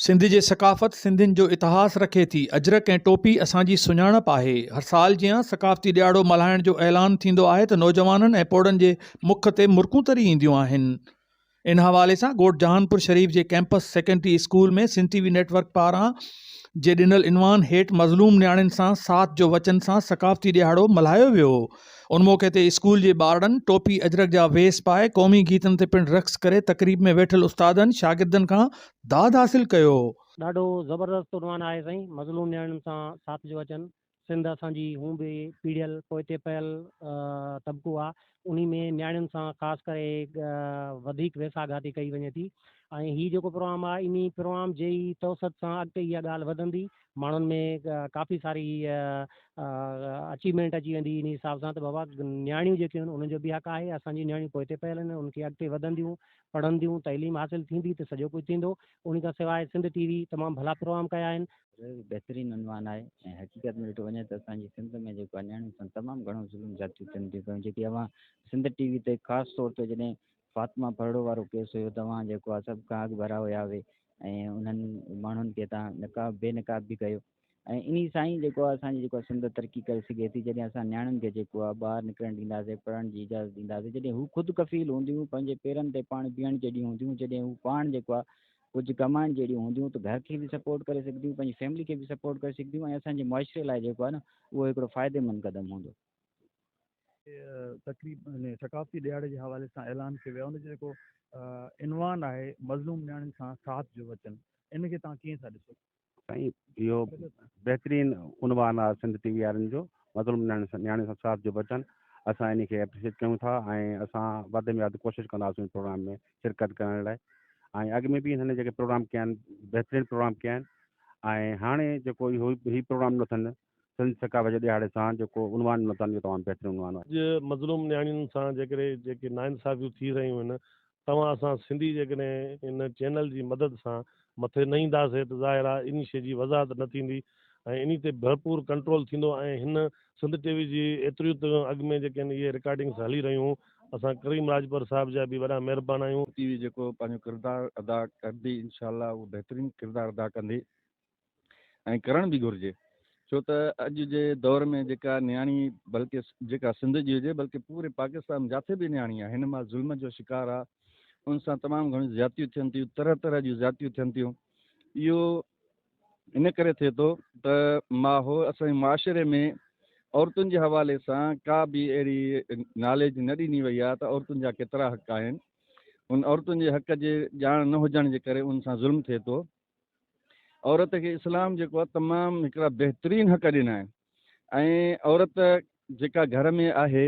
سنڌ جي ثقافت سنڌين جو اتهاس رکي ٿي اجرڪ ۽ ٽوپي اسان جي سڃاڻپ آهي هر سال جيان ثقافتي ڏياڙو ملهائڻ جو اعلان ٿيندو آهي ته نوجوانن ۽ پوڙهن جي مک تي مرڪون تري اينديون آهن ان حوالي سان ڳوٺ جهانپور شريف جي campus secondary school ۾ Sindh T V network پاران جي ڏنل عنوان هيٺ مظلوم نياڻين سان ساٿ جو وچن سان ثقافتي ڏيهاڙو ملهايو ويو هو ان موقعي تي اسڪول جي ٻارڙن ٽوپي اجرڪ جا ويس پائي قومي گيتن تي پڻ رقص ڪري تقريب ۾ ويٺل استادن شاگردن کان داد حاصل ڪيو. ڏاڍو زبردست عنوان آهي سائين مظلوم نياڻين سان ساٿ جو وچن. سنڌ اسان جي هون به پيڙهيل پوئتي پيل طبقو آ انهي ۾ نياڻين سان خاص ڪري وڌيڪ ويساهه گهاتي ڪئي وڃي ٿي ۽ هي جيڪو پروگرام آ انهي پروگرام جي ئي توسط سان اڳتي اها ڳالهه وڌندي ماڻهن ۾ ڪافي ساري اچيومينٽ اچي ويندي انهي حساب سان ته بابا نياڻيون جيڪيون آهن انهن جو به حق آهي اسان جون نياڻيون پوئتي پيل آهن انهن کي اڳتي وڌنديون پڙهنديون تعليم حاصل ٿيندي ته سڄو ڪجهه ٿيندو انهي کان سواء سنڌ ٽي وي تمام ڀلا پروگرام ڪيا آهن اهو به بهترين عنوان آهي ۽ حقيقت ۾ ڏٺو وڃي ته اسان جي سنڌ ۾ جيڪو آهي نياڻين سان تمام گهڻو ظلم زيادتيون ٿين ٿيون پيون جيڪي اوهان سنڌ ٽي وي تي خاص طور تي جڏهن فاطمه ڦرڙو وارو ڪيس هيو ته اوهان جيڪو آهي سڀ کان اڳ ڀرا هيا اهي ۽ انهن ماڻهن کي تان نقاب بي نقاب به ڪيو ۽ انهي سان ئي جيڪو آهي اسان جي جيڪو سنڌ ترقي ڪري سگهي ٿي جڏهن اسان نياڻين کي جيڪو آهي ٻاهر نڪرڻ ڏينداسين پڙهڻ جي اجازت ڏينداسين جڏهن هو خود ڪفيل هونديون پنهنجي پيرن تي پاڻ بيهڻ جي ڏينهن هونديون جڏهن هو پاڻ جيڪو آهي ڪجهه ڪمائڻ جهڙيون هونديون ته گهر کي به سپورٽ ڪري سگهنديون پنهنجي فيملي کي به سپورٽ ڪري سگهنديون ۽ اسان جي معاشري لاء جيڪو آهي نه اهو هڪڙو فائديمند قدم هوندو. تقريب ۾ ثقافتي ڏهاڙي جي حوالي سان اعلان ڪيو ويو آهي ان جو جيڪو عنوان آهي مظلوم نياڻين سان ساٿ جو وچن ان کي توهان ڪيئن ٿا ڏسو؟ سائين اهو بهترين عنوان آهي سنڌ ٽي وي وارن جو مظلوم نياڻي سان صاحب جو وچن اسان ان کي اپريشيٽ ڪيون ٿا ۽ اسان وڌ ۾ وڌ ڪوشش ڪنداسون پروگرام ۾ شرڪت ڪرڻ لاء ۽ اڳ ۾ به هن جيڪي پروگرام ڪيا آهن بهترين پروگرام ڪيا آهن ۽ هاڻي جيڪو اهو هي پروگرام نٿن سنڌ ثقافت جي ڏهاڙي سان جيڪو عنوان متان اهو تمام بهترين عنوان آهي. اڄ مظلوم نياڻين سان جيڪڏهن جيڪي ناانصافيون ٿي رهيون آهن توهان اسان سنڌي جيڪڏهن هن چينل جي مدد سان مٿي نه ايندا سي ته ظاهر آهي انهي شي جي وضاحت نه ٿيندي ۽ انهي تي ڀرپور ڪنٽرول ٿيندو ۽ هن سنڌ ٽي وي جي ايتريون ته اڳ ۾ جيڪي اهي رڪارڊنگس هلي رهيون اسان ڪريم راڄپر صاحب جا به وڏا مهربان آهيون. ٽي وي جيڪو پنهنجو ڪردار ادا ڪندي انشاء الله اهو بهترين ڪردار ادا ڪندي ۽ ڪرڻ به گهرجي ڇو ته اڄ جي دور ۾ جيڪا نياڻي بلڪه جيڪا سنڌ جي هجي بلڪه پوري پاڪستان جاٿي به نياڻي آهي هن مال ظلم جو شڪار آهي ان سان تمام گهڻيون زيادتيون ٿين ٿيون طرح طرح جون زيادتيون ٿين ٿيون اهو ان ڪري ٿئي ٿو ته ماحول اسان جي معاشري ۾ عورتن جي حوالي سان ڪا به اهڙي ناليج نه ڏني وئي آهي ته عورتن جا ڪيترا حق آهن ان عورتن جي حق جي ڄاڻ نه هجڻ جي ڪري ان سان ظلم ٿئي ٿو عورت کي اسلام جيڪو آهي تمام هڪڙا بهترين حق ڏنا آهن ۽ عورت جيڪا گهر ۾ آهي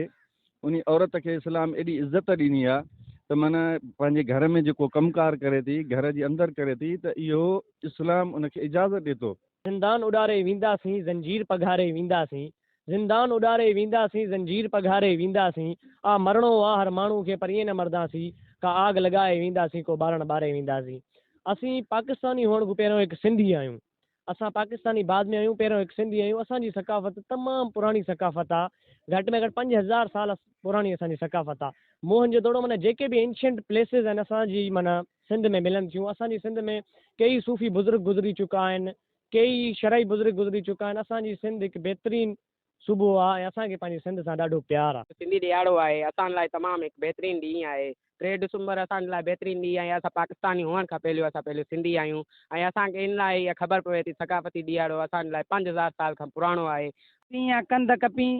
انهي عورت کي اسلام ايڏي عزت ڏني آهي ته معنيٰ پنهنجي گهر ۾ جيڪو ڪم ڪار ڪري ٿي گهر جي اندر ڪري ٿي ته اهو اسلام ان کي اجازت ڏي ٿو. زندان اڏاري وينداسين زنجير پگهاري وينداسين زندان اڏاري وينداسين زنجير پگهاري وينداسين آ مرڻو آ هر ماڻهو کي پر ائين نه مرداسين ڪا آڳ لڳائي وينداسين ڪو ٻارڻ ٻاري وينداسين اسين پاڪستاني هئڻ کان پهريون هڪ سنڌي آهيون اسان پاڪستاني بعد ۾ آهيون پهريون هڪ سنڌي آهيون اسان جي ثقافت تمام پراڻي ثقافت آ گهٽ ۾ گهٽ پنج هزار سال پراڻي اسان جي ثقافت آ موهن جو دڙو معنيٰ جيڪي به انشينٽ پليسز آهن اسان جي معنيٰ سنڌ ۾ ملن ٿيون اسان جي سنڌ ۾ ڪيئي صوفي بزرگ گذري چڪا آهن ڪيئي شرعي بزرگ گذري چڪا آهن. اسان جي سنڌ هڪ بهترين صوبو آ ۽ اسان کي پنهنجي سنڌ سان ڏاڍو پيار آ. سنڌي ڏيهاڙو آهي اسان لاء تمام هڪ بهترين ڏينهن آهي. ٽي ڊسمبر اسان جي لاء بهترين ڏينهن آهي. اسان پاڪستاني هئڻ کان پهليو اسان پهليو سنڌي آهيون ۽ اسان کي ان لاء هي خبر پوي ٿي ثقافتي ڏيهاڙو اسان جي لاء پنج هزار سال کان پراڻو آهي. سينهن ڪنڌ ڪپين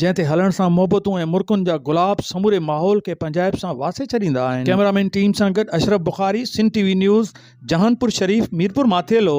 جنهن تي هلڻ سان محبتون ۽ مرڪن جا گلاب سموري ماحول کي پنهنجائپ سان واسي ڇڏيندا آهن. ڪئميرا مين ٽيم سان گڏ Ashraf Bukhari, Sindh T V news, Jahanpur Sharif, Mirpur Mathelo.